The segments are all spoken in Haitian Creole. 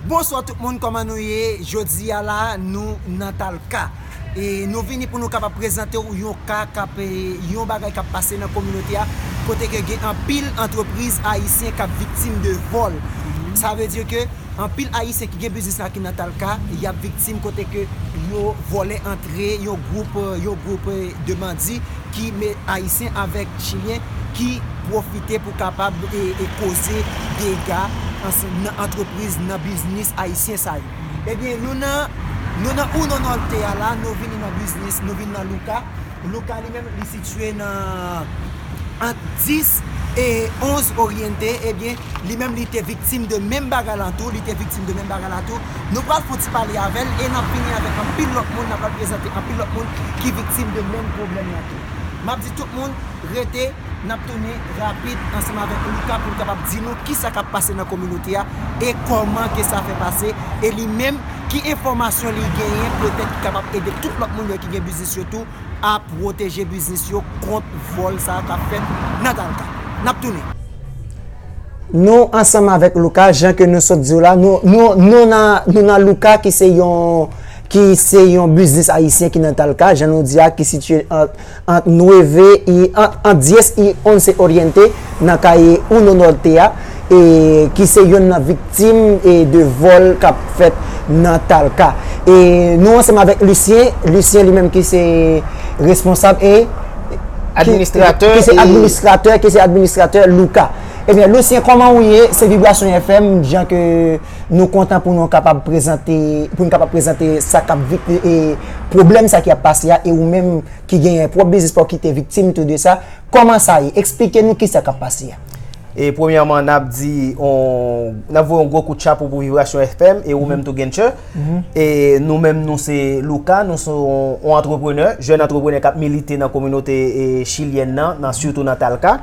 Bonswa tout moun koman nou ye jodi a la nou nan talka e nou vini pou nou kapab prezante ou yon ka kap yon bagay kap pase nan kominote a kote ke gen anpil antrepriz ayisyen kap viktim de vòl sa vle di ke anpil ayisyen ki gen biznis la ki nan talka yap viktim kote ke yo vòlè antre yon gwoup yon gwoup de bandi ki me ayisyen avèk chilyen ki pwofite pou kapab koze dega nan antrepriz nan biznis ayisyen sa yo ebyen nou nan nou nan uno norte a la nou vini nan biznis nou vini nan luca luca li menm li sitye nan ant 10 e 11 oriente ebyen li menm li te viktim de menm bagay lan tou li te viktim de menm bagay la tou Nou pral fon ti pale avèl e nap vini avèk anpil lòt moun nap pral prezante anpil lòt moun ki viktim de menm pwoblèm lan tou. Map di tout moun rete nap tounen rapid ansanm avèk Luca poul kapab di nou kisa kap pase nan kominote a e kòman ke sa fè pase e li menm ki enfòmasyon li genyen petèt ki kapab ede tout lòt moun yo ki gen biznis yo tou a pwoteje biznis yo kont vòl sa kap fèt nan Dalca. Nap tounen. Nou ansanm avèk Luca, jan ke nou sot diw la, nou nan Luca ki se yon ki se yon biznis ayisyen ki nan Talca, jan nou di a ki sitye ant Nueve y ant Diez y Once Oriente nan Calle Uno Norte a e ki se yonn nan Viktim de vòl k ap fèt nan Talca. E nou ansanm avèk Lucien, Lucien li menm ki se responsab e. Administratè e. Ki se administratè, ki se administratè Luca. Ebyen Lucien kòman ou ye? Se Vibration FM jan ke nou kontan pou nou kapab prezante, pou nou kapab prezante sa k ap vik e pwoblèm sa ki ap pase a e ou menm ki genyen pwòp biznis pa w ki te viktim tou de sa. Kòman sa ye? Eksplike nou ki sa k ap pase a. E premyèman nap di nap voye yon gwo kout chapo pou Vivration FM e ou menm tou Genchè. E nou menm nou se Luca, nou se yon antreprenè, jèn antreprenè kap milite nan kominote chilyèn nan, nan sitou nan Talca.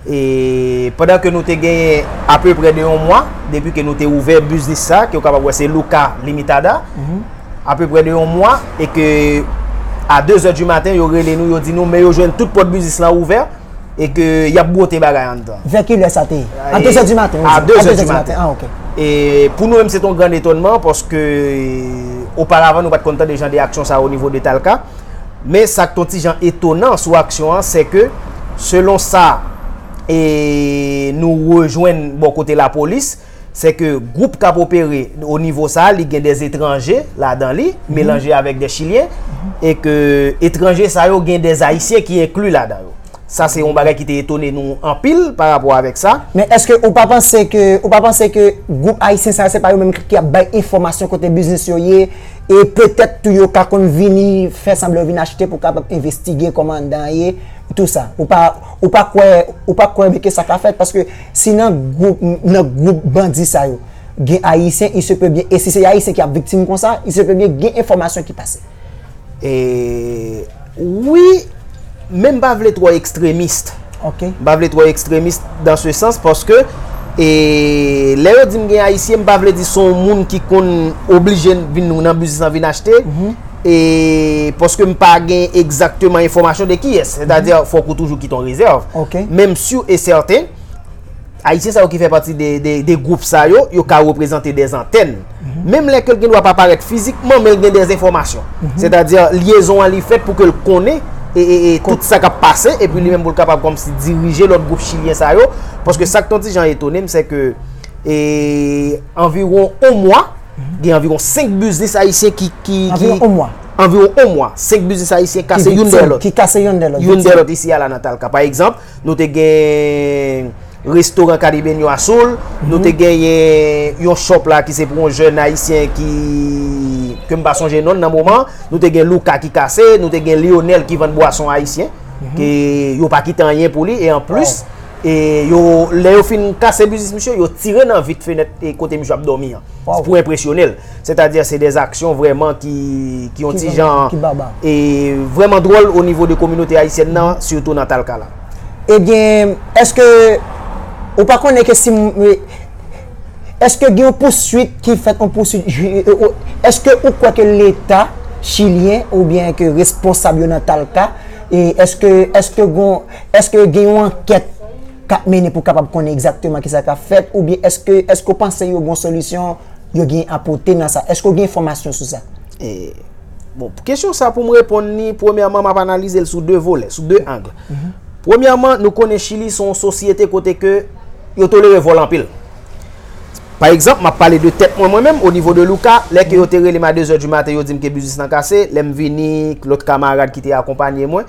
E pandan ke nou te genyen ape prè de yon mwa depi ke nou te ouvè biznis sa ke ou kapab wè se Luca Limitada. Ape prè de yon mwa e ke a 2 zè di maten yo rele nou yo di nou men yo jwenn tout pòt biznis lan ouvè. E ke y ap bwote bagay anndan. Vè ki lè sa te ye? A 2 zè di maten ou di? A 2 zè di maten. Ah ok. E pou nou menm se te yon gran etonman paske oparavan nou pa te konn tande jan de aksyon sa o nivo de Talca. Men sa ki te yon ti jan etonan sou aksyon an se ke selon sa e nou rejwenn bò kote lapolis, Se ke gwoup kap opere o nivo sa a li gen de etranje ladan li, melanje avèk de chilyen, e ke etranje sa yo gen de ayisyen ki enkli ladan yo. Sa se yon bagay ki te etone nou anpil pa rapò avèk sa. Men eske ou pa panse ke, ou pa panse ke gwoup ayisyen sa yo se pa yo menm ki ap bay enfòmasyon kote biznis yo ye, e petèt tou yo ka konn vini fè sanblan yo vini achte pou kapab envestige kòmandan ye, tou sa. Ou pa, ou pa kwè, ou pa kwè ke sa ka fèt paske. Si nan group nan group bandi sa yo gen ayisyen il se peut bien e si se ayisyen ki ap viktim konsa il se peut bien gen enfòmasyon ki pase. Eee wi men m pa vle twò ekstremist Ok. M pa vle twò ekstremist dans se sans paske e lè yo di m gen ayisyen m pa vle di se yon moun ki konn oblije vin nan biznis lan vin achte E paske m pa gen egzakteman enfòmasyon de ki es. Sètadi, fòk ou toujou kite yon rezèv. Ok. Men m sur e sèten, Ayisyen sa yo ki fè pati de gwoup sa yo, yo ka reprezante de zantèn. Menm lè ke l gen dwa pa parèt fizikman, men l gen de enfòmasyon. Sètadi, lyezon an li fèt pou ke l konnen e tout sa k ap pase, epi li menm pou l kapab kòmsi dirije lòt gwoup chilyen sa yo. Paske sa k ton ti jan etone m, se ke anviwon yon mwa, Gen anviwon 5 biznis ayisyen ki. Anviwon 1 mwa. Anviwon 1 mwa. 5 biznis ayisyen kase youn dèyè lòt. Ki kase youn dèyè lòt. Youn dèyè lòt isi a la nan Talca. Pa egzanp, nou te gen restoran Caribeño a Soul. Nou te genyen yon shop la ki se pou yon jèn ayisyen ki, ke m pa sonje non l nan moman. Nou te gen Luca ki kase. Nou te gen Lionel ki vann bwason ayisyen. Ke yo pa kite anyen pou li. E anplis. E yo, lè yo fin kase biznis misye, yo tire nan vit fenèt e kote misye ap dòmi an. Waw. Pou enpresyone l. Sètadi se dè aksyon vrèman ki yon ti jan. Ki baba. E vrèman dwòl o nivo de kominote ayisyèn nan, sitou nan Talkala. Ebyen, èske ou pa konnen ke si mwen, èske gen yon pouswit ki fèt, yon pouswit ji, èske ou kwè ke leta chilyen oubyen ke responsab yo nan Talka, èske, èske gon. Eske gen yon ankèt kap mennen pou kapab konnen egzakteman ki sa kap fèt ou byen eske eske ou panse yo gon solisyon yo gen a pote nan sa eske ou gen enfòmasyon sou sa? E Bon pou kesyon sa pou m reponn li premyèman map analize l sou 2 volè sou 2 ang premyèman nou konnen chili se yon sosyete kote ke yo tolere vòl anpil pa egzanp map pale de tèt mwen mwen menm o nivo de Luca lè ke yo te rele m a 2 zè di maten yo di m ke biznis lan kase lè m vini lòt kamarad ki te akonpanye mwen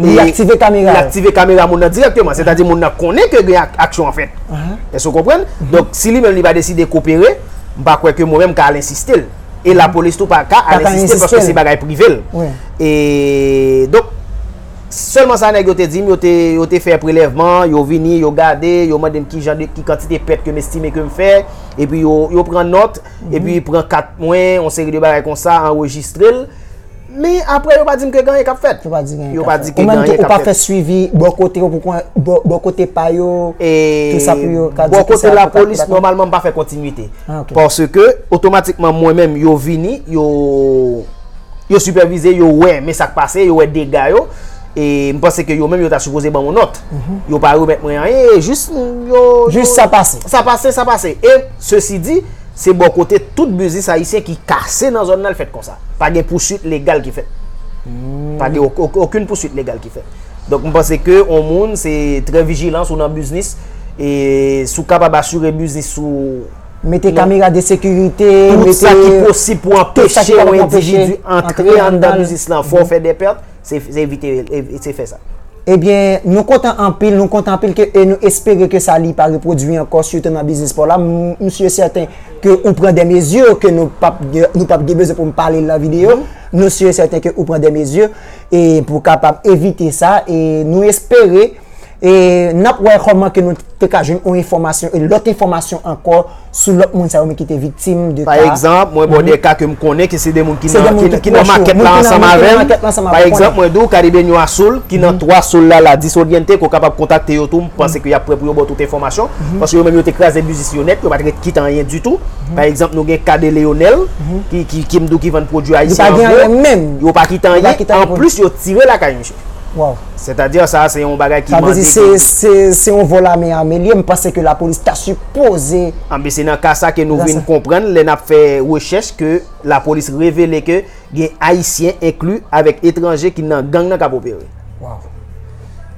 Li aktive kamera yo. Li aktive kamera moun nan dirèkteman. Sètadi moun nan konnen ke gen aksyon an fèt. Èske ou konprann? Donk, si li menm li pa deside kopere, m pa kwè ke mwen menm m ka al ensiste l. E lapolis tou pa ka al ensiste l paske se bagay prive l. E, donk, sèlman sa nèg yo te di m, yo te fè prelèvman, yo vini, yo gade, yo mande m ki jan de, ki kantite pèt ke m estime ke m fè. E pi yo pran nòt, e pi pran kat mwen, yon seri de bagay konsa, anrejistre l. Men apre yo pa di m ke gen anyen k ap fèt. Yo pa di gen anyen k ap fèt. Yo pa di ke gen anyen k ap fèt. Ou menm tou ou pa fè swivi bò kote yo pou kon, bò kote pa yo, tout sa pou yo ka di ki sa yo pou ka. Bò kote lapolis, nòmalman m pa fè kontinwite. Ah ok. Paske otomatikman mwen menm yo vini, yo, yo sipèvize, yo wè men sa k pase, yo wè dega yo. E m panse ke yo menm yo ta sipoze ban m yon nòt. Yo pa remèt mwen anyen e jis yo. Jis sa pase. Sa pase, sa pase. E sesi di, Se bò kote tout biznis ayisyen ki kase nan zòn nan l fèt konsa. Pa gen pouswit legal ki fèt. Pa gen okenn pouswit legal ki fèt. Donk m panse ke on moun se trè vijilan si w nan biznis e si w kapab asire biznis ou. Mete kamera de sekirite, mete. Tout sa ki posib pou anpeche on endividi antre anndan biznis lan fò w fè de pèt. Se evite se fè sa. Ebyen nou kontan anpil nou kontan anpil ke e nou espere ke sa li pa repwodui ankò sitou nan biznis paw la m si e sèten ke ou pran dè mezi ke nou pap nou pap gen bezwen pou m pale l nan videyo nou si e sèten ke ou pran dè mezi e pou kapab evite sa e nou espere E nap wè kòman ke nou te ka jwenn yon enfòmasyon e lòt enfòmasyon ankò sou lòt moun sa yo men ki te viktim de ka. Pa egzanp, mwen ba w de ka ke m konnen ke se de moun ki nan makèt la ansanm avè m. Pa egzanp, mwen di w Caribeño Azul ki nan 3 Sol la la Disoriente ke w kapab kontakte yo tou m panse ke y ap pre pou yo ba w tout enfòmasyon. Paske yo menm yo te kraze biznis yo nèt, yo pa t ret kit anyen ditou. Pa egzanp, nou gen ka de Leonel ki m di w ki vann pwodui ayisyen an gwo. Yo pa kit anyen menm. Yo pa kit anyen. Anplis yo tire lakay misye. Waw. Sètadi sa a se yon bagay ki mande. Sa vle di se, se, se yon vòl ame ame li ye, m panse ke lapolis ta sipoze. Anben se nan ka sa ke nou vin konprann lè n ap fè rechèch ke lapolis revele ke gen ayisyen enkli avèk etranje ki nan gang nan k ap opere. Waw.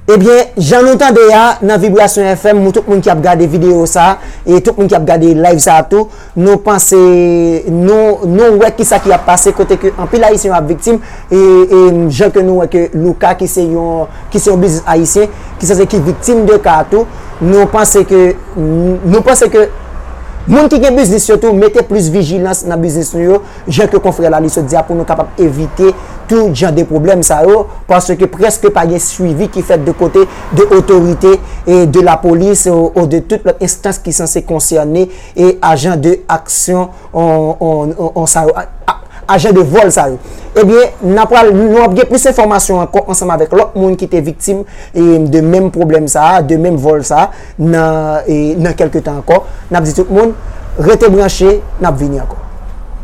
Ebyen, jan nou tande a nan Vibration FM, mou tout moun ki ap gade videyo sa a, e tout moun ki ap gade live sa a tou, Nou panse nou nou wè kisa ki ap pase kote ke anpil ayisyen yo ap viktim e e jan ke nou wè ke Luca ki se yon ki se yon biznis ayisyen ki sanse ki viktim de ka a tou nou panse ke nou panse ke moun ki gen biznis yo tou mete plis vijilans nan biznis nou yo jan ke konfrè Laly sot di a pou nou kapab evite tout jan de pwoblèm sa yo paske prèske pa gen swivi ki fèt de kote de otorite e de lapolis o de tout lòt enstans ki sanse konsène E ajan de aksyon on sa yo, ajan de vòl sa yo. Ebyen, n a pral, nou ap gen plis enfòmasyon ankò ansanm avèk lòt moun ki te viktim de menm pwoblèm sa a, de menm vòl sa a nan kèlke tan ankò. N ap di tout moun, rete branche, n ap vini ankò.